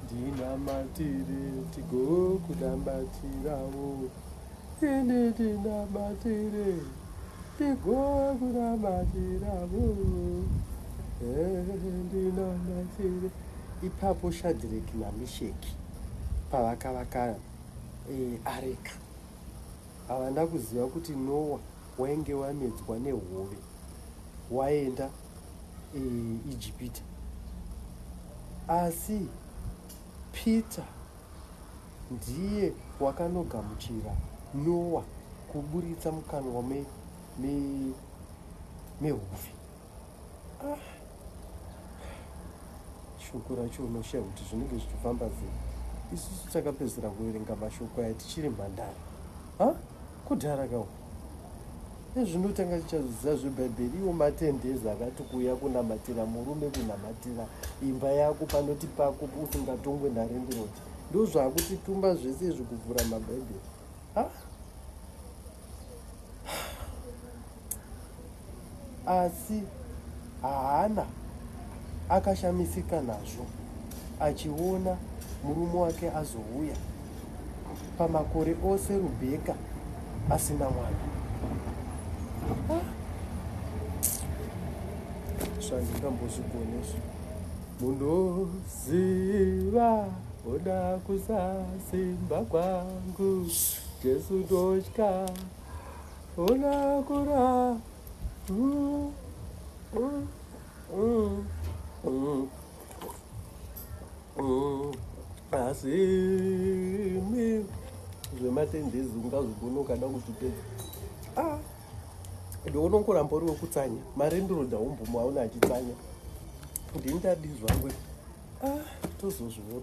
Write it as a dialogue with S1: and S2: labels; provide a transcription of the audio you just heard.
S1: ndinamatire tigokunamatirawo ini ndinamatire tigokunamatirawo ndinamatire ipapo shadhireki namisheki pavakavaka eh, areka havana kuziva kuti nowa wainge wamedzwa nehove waenda Ijipita. Asi Peter ndiye wakanogamuchira Noa kuburitsa mukanwa me, me, mehuvi. Ah. Shoko racho unoshiya kuti zvinenge zvichifamba sei. Isusu takapedzera kuverenga mashoko aya tichiri mhandara. Ha? Kudhara kawo. Ezvino tanga tichazidzisa zveBhaibheri iwo matendezi akati kuuya kunamatira murume kunamatira imba yako panoti pako usingatongwe narendiroti ndozvaakutitumba zvese izvi kuvhura mabhaibheri ah. Asi Hana akashamisika nazvo achiona murume wake azouya pamakore ose Rubheka asina mwana. Ah. Zvandingambozvigonesvo munoziva oda kusasimba kwangu Jesu ndotya asi zvematendezi ungazvigona ukada kuzvipedza ah, ndiona unkuramba uri wekutsanya mari ndiroda umbomu aona achitsanya ndini tadizvangwe ah, tozozviona